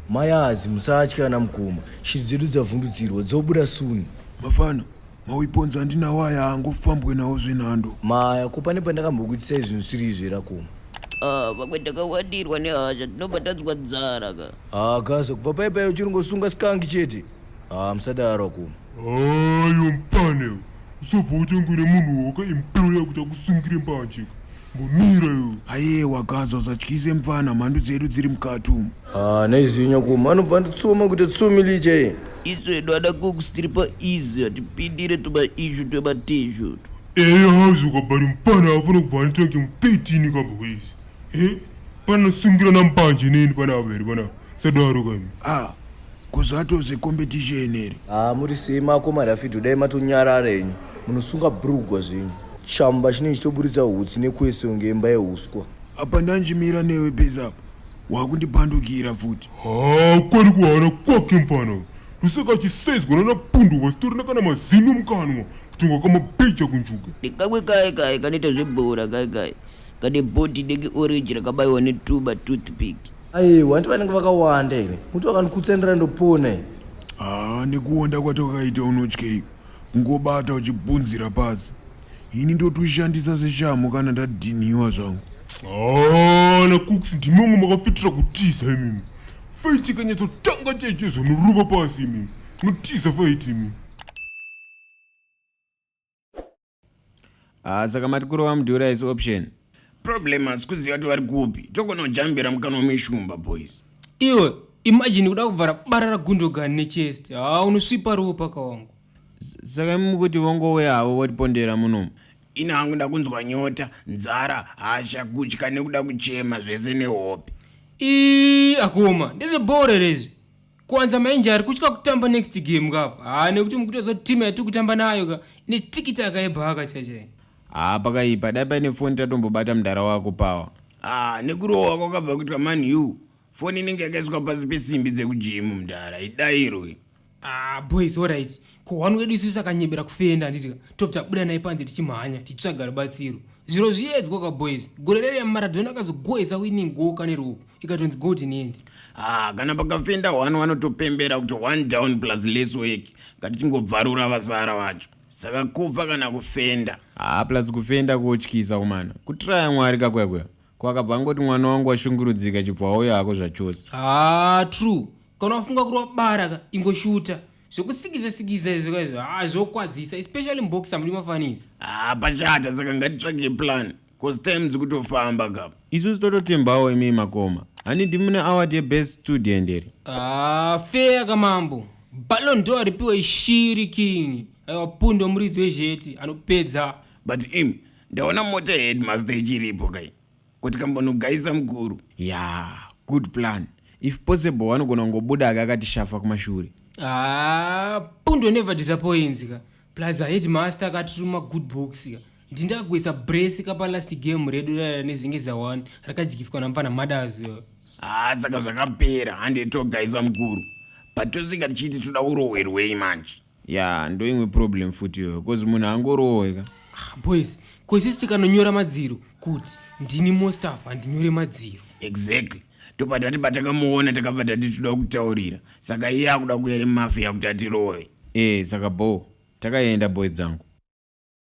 mayazi musatya ana mukoma shiri dzedu dzavhundutsirwa dzobuda suni mafana mauiponza andinawo aya angofambwe nawo zvenhando maya ko pane pandakambokuitisai zvinhu siri izvi rakoma Ah, vamwe takawadirwa nehasha tinobatadzwa dzara ka hakaza kubva paipayo uchinongosunga skangi chete haa musadaro kuma ayo mpane usobva utengwere munhu wakaemploya kuti akusungire mbanjeka ngomira yo aye wakaza usatyise mfana mhandu dzedu dziri mukati umu haa neizvinyo kuma anobva anditsuma kuti tsumi liche isu edu ada cooks tiri paizi hatipindire tumaishu twematezhu eya hauzi ukabari mpana afana kubva anitake mu 13 kamba kwezi e panasungira nambanje neni panapa here panapa sadaro kani ah ko zvatove competition here haa ah, muri sei makomari afidho dai matonyarara henyu munosunga brugwa zvenyu chamba chinenge chitoburitsa hutsi nekwese kunge imba yeuswa apa ndanjimira newe bezapo wakundipandukira futi haa ah, kwari kuhara kwake mfana lusaka chisezwa nana pundu vasitorina kana mazino mukanwa kutonga kamabeja kunjuga ndikamwe kaye kaye kanoita zvebhora kaye kaye kane bhodhi deki orange rakabayiwa netuba toothpick aiwa hanti vanenge vakawanda ini muti wakandikhutsenera ndopona ini haa ah, nekuwonda kwatwakaita unotyei kungobata uchibvunzira pasi ini ndotushandisa seshamhu kana ndadhinhiwa zvangu ah, nakuks ndimi vamwe makafitira kutiza imimi faiti ikanyatsotanga chaicho zvonoruva pasi imimi notiza faiti imimi ah, saka mati kurova mudhura isi option problem asi kuziva kuti vari kupi togona kujambira mukanwa meshumba boys iwe imagine kuda kuvhara bara ragundogani nechest haa ah, unosvipa ruwo paka wangu saka imi mukuti vongowe havo votipondera munomu ini hangu ndakunzwa nyota nzara hasha kutya nekuda kuchema zvese nehope ii akoma ndezvebhore rezvi kwanza mainje ari kutya kutamba next game ka haa nekuti mukutoziva kuti timu yatiri kutamba nayo ka ine tikiti akaibhaka chaichai haa pakaipa dai paine foni tatombobata mudhara wako pawa haa nekurohwa kwakabva kuitwa man u foni inenge yakaiswa pasi pesimbi dzekujimu mudhara idairo haa boys orit ko one wedu isusu sakanyebera kufenda handitika tobva tabuda naye panze tichimhanya tichitsvaga rubatsiro zviro zviedzwa ka boys gore rere maradhona akazogoesa winning goka neruoko ikatonzi go kuti niende ah, kana pakafenda hwani wanotopembera kuti one down plus less work ngatichingobvarura vasara vacho saka kufa kana kufenda haa ah, plus kufenda kuotyisa kumana kutiraya mwari kakwekwe kwakabva angoti mwana wangu washungurudzika chibva wauya hako zvachose haa ah, true kana wafunga kuri wabara ka ingoshuta zvekusikiza sikiza izvo kaizvo haa ah, zvokwadzisa especially mboxa muri mafanizi haa pachata saka ngatitsvage plan cause time dzikutofamba ka isusu tototembawo imi makoma hani ndimune award yebest student here ah, feya kamambo balon do aripiwa ishiri king aiwa pundo muridzi wezheti anopedza but im ndaona mota yeheadmaster ichiripo kai kuti kambonogaisa mukuru ya yeah, good plan if possible wanogona kungobuda ake akatishafa kumashure ah, pundo never disappoints ka plus aheadmaster akatituma good books ka ndindakuisa brace kapa last game redu rara nezinge za one rakadyiswa namfana mothers haa saka zvakapera hande togaisa mukuru but tosvika tichiti toda kurohwerwei manje ya ndoimwe problem futi iyoyo bcause munhu angorohweka ah, boys koisisi tikanonyora madziro kuti ndini mostaf handinyore madziro exactly topa tati patakamuona takapa tati toda kutaurira saka iye akuda kuyere mafi yakuti atirove ee eh, saka boo takaenda boys dzangu